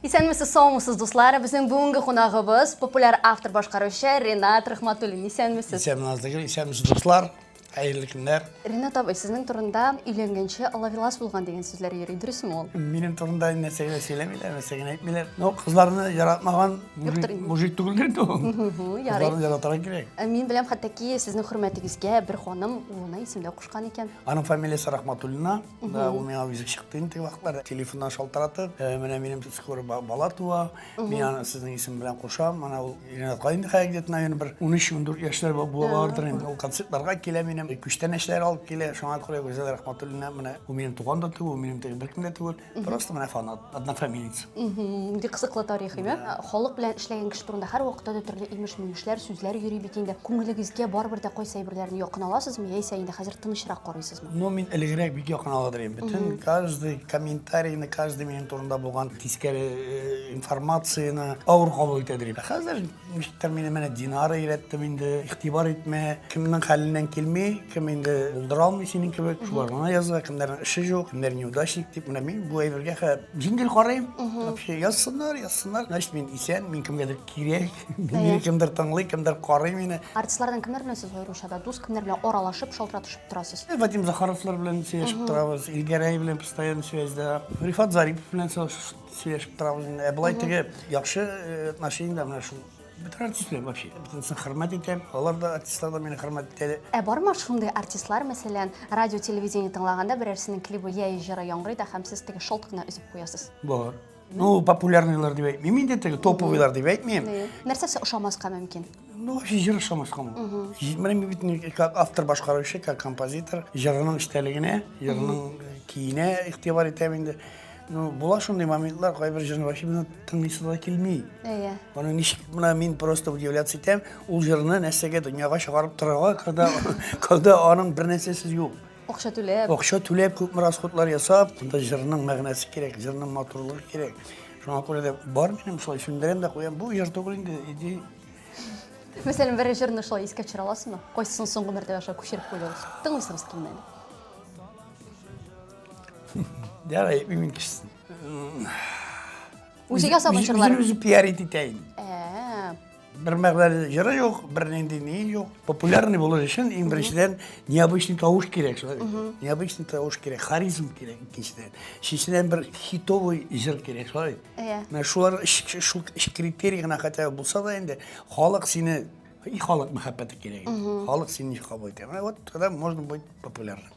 Исәнмесез, саумысыз, дуслар! Безнең бүгенге кунагыбыз популяр автор башкаручы Ренат Рахматуллин. Исәнмесез! Исәнмесез, Назлыгөл, исәнмесез, дуслар! Хәерле көннәр! Ренат абый, сезнең турында өйләнгәнче алавилас булган дигән сүзләр йөри, дөресме ул? Минем турында нәрсә генә сөйләмиләр, нәрсә генә әйтмиләр. Но кызларны яратмаган мужик түгел инде ул. Кызларны яратырга кирәк. Мин беләм, хәтта ки сезнең хөрмәтегезгә бер ханым улына исем дә кушкан икән. Аның фамилиясе Рахматуллина. Да, ул миңа үзе чыкты инде теге вакытлар. Телефоннан шалтыратып, «Э, менә минем скоро ба- бала туа, мин аны сезнең исем белән кушам. Менә ул Ринатка инде хәзер где-то, наверное, бер 13-14 яшьләр ба- була бардыр инде. Ул концертларга килә минем, э, күчтәнәчләр алып килә. Шуңа күрә Гүзәл Рәхмәтуллина менә ул минем туган да түгел, ул минем теге беркем дә түгел. Просто менә фанат, однофамилец. Мгм, Бик кызыклы тарих, әйме? Халык белән эшләгән кеше турында һәр вакытта да төрле имеш-мимешләр, сүзләр йөри бит инде. Күңелегезгә барыбер дә кайсы әйберләрне якын аласызмы, яисә инде хәзер тынычрак карыйсызмы? Ну, мин элегрәк бик якын алыр идем. Бөтен каждый комментарийны, каждый минем турында булган тискәре э, информацияне авыр кабул итә идем. Ә Хәзер ничектер мине менә Динара өйрәттем инде. Игътибар итмә, кемнең хәленнән килми, кем инде булдыра алмый синең кебек. Шулар гына яза, кемнәрнең эше юк, кемнәр неудачник дип. Менә мин бу әйбергә хә җиңел карыйм. Вообще язсыннар, язсыннар. Значит, мин исән, мин кемгәдер кирәк. Мине кемдер тыңлый, кемдер карый мине. Артистлардан кемнәр белән сез аеруча да дус, кемнәр белән аралашып, шалтыратышып торасыз? Э, Вадим Захаровлар белән сөйләшеп торабыз, Илгәрәй белән постоянно связьда. Рифат Зарипов белән сөйләшеп торабыз. Ә болай теге яхшы э, отношениедә менә шул бөтен артистлар вообще бөтенесен хөрмәт итәм алар да артистлар да мине хөрмәт итә ә бармы шундый артистлар мәсәлән радио телевидение тыңлаганда берәрсенең клибы яи җыры яңгырый да һәм сез теге шалт кына өзеп куясыз бар Ну, популярныйлар дип әйтмим инде теге, топовыйлар дип әйтмим. Нәрсә сез ошамаска мөмкин? Ну, вообще җыр ошамаска мөмкин. Җитмәлем бит ни как автор башкаручы, как композитор, җырының эчтәлегенә, җырының киенә игътибар итәм инде. Ну, була шундый моментлар, кайбер җырны вообще менә тыңлыйсы да килми. Әйе. Аны ничек менә мин просто удивляться итәм, ул җырны нәрсәгә дөньяга чыгарып торырга, когда когда аның бер нәрсәсе юк. Акча түләп. Акча түләп, күпме расходлар ясап, монда җырның мәгънәсе кирәк, җырның матурлыгы кирәк. Шуңа күрә дә бар минем шулай сүндерәм дә куям. Бу җыр түгел инде, иди. Мәсәлән, бер җырны шулай искә төшерә аласызмы? Кайсысын соңгы мәртәбә шулай күчереп куйдыгыз? Тыңлыйсыгыз килмәде. Ярый, мин кичсен. Үзе ясаган җырлар. Үзе пиар итә инде. Бер мәгънәле җыры юк, бер нинди ни юк. Популярный булыр өчен иң беренчедән необычный тавыш кирәк шулай. Необычный тавыш кирәк, харизм кирәк икенчедән. Өченчедән бер хитовый җыр кирәк шулай. Иә. Менә шулар шул критерий гына хотя бы булса да инде халык сине и халык мәхәббәте кирәк. Халык сине кабул итә. Менә вот тогда можно быть популярным.